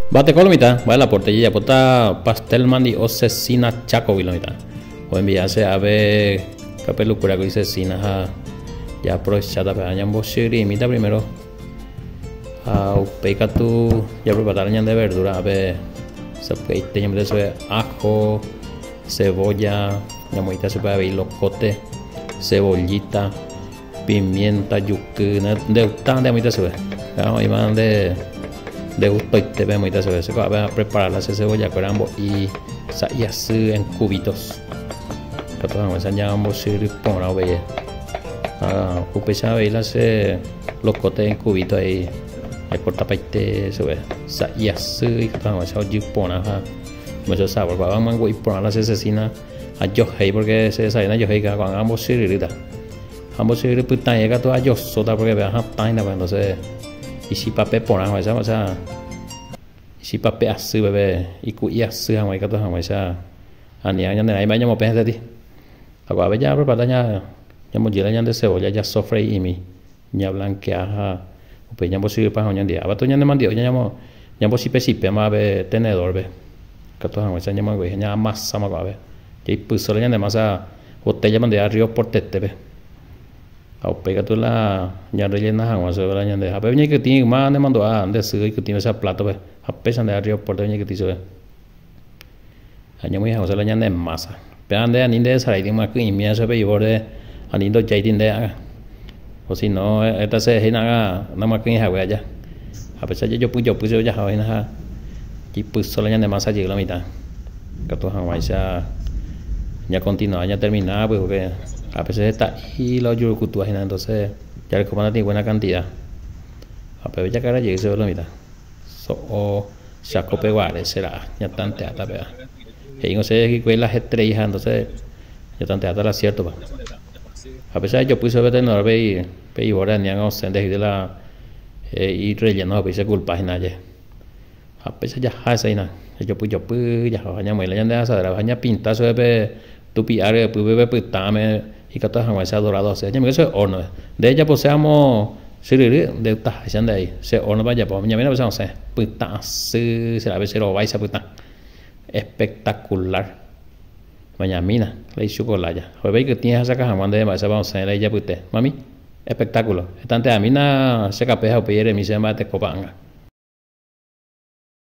Mbateko lo mitã, mba'e la porte jejapóta pastel mandi'o Cecina Chácogui lo mitã. Oenvia che ave kapelukura kuri Cecina ha jaaprovecháta pe ára ñambochyrrimíta primero ha upéi katu japreparará ñande verdura ápe sapy'aite ñamete chupe ajo, cebolla, ñamoĩta chupe avei lokote, cebollita Pimienta juky ndeuta nde amoita chupe ha oĩva nde ndegustóite pe amoita chupe che ko'ápe apreparala che cebolla kuéra ambo'i sa'i asy en cubitos katu hag̃uáicha ñamombosyry porã avei ha upéicha avei la che locote en cubito ahí acortapaite chupe sa'i asy ikatu hag̃uáicha ojy porã ha oime che sabor ko'ág̃a amombe'u iporã la che cecina Ajohéi pórke che desavión ajohéi ko'ã ko'ág̃a ambosyryrýta. Ambosyrýri pytãie katu ajosóta pórke pe ahatãita pues entónse ichipape porã hag̃uáicha ósea ichipape asýpe pe iku'i asy hag̃ua ikatu hag̃uáicha aniág̃a ñane rãi mba'e ñamopẽ heseti. Ha ko'ápe japrepara ñamojýra ñande cebolla jasofrei'imi. Ñablankea ha upéi ñambosýi pan ha oñondia. Avatu ñanemandi'o ñambosipesipéma jave tenedórpe, katu hag̃uáicha ñamoingoiha ñaamasama ko'ãve. Jaipysóre ñane masa votéllama ndive arrío portetépe. Ha upéi katu la ñarrellena hag̃ua suegra ñande. Ha pépe ñaikytĩ yma nemandu'a nde sy oikytĩ mesa plátope ha péicha nde arrío pórtepe ñaikytĩ chupe. Añomýi hag̃ua che la ñande mása. Péva nde ani nde'esaraíti myaky'ĩmína che pe ivóre, ani ndojáiti nde'aga. O si no heta che he'ínaga namyaky'ỹ hague aja. Ha péicha jejopy jopy che ojaha oĩna ha jipyso la ñande mása jey la mitã. Katu hag̃uáicha ñakontinuá ñatermina pýpe. Ápe che heta'i la ojurukutúva hína, entonces jarekóma natĩ buena cantidad. Ha upépe jakarra jey chéve la mitã. so'o chakopeguare che ra'a ñatanteáta péva he'i osẽ hikuái la hetrei ha entonce ñatanteáta la ciertopa ha péicha ejopy che vetenedor pe pe ivore aniág̃a osẽ nde he'íta la irrelleno ha upéi che culpa hína aje ha péicha jaha hesehína ejopy jopy jaha ha ñamoĩla ñande asadréva ha ñapinta chupe pe Tupi'a ryepy peve pytãme ikatu hag̃uáicha adorado asy. Añemíke che horno. Nde ejapose amo chyryry, nde taháicha nde ai. Che hornope ajapo. Ñamína pe che osẽ. Pytã asy che ra'e pe che rovaicha pytã. Espectacular. Ñamína, la ichuka olája. Ho'épe ikytĩ ehasaka hag̃ua ndéve mba'éichapa osẽ la ijapyte. Mami, espectáculo. Etante'amína che kape ha upéi eremi chéve mba'etekópa ãnga.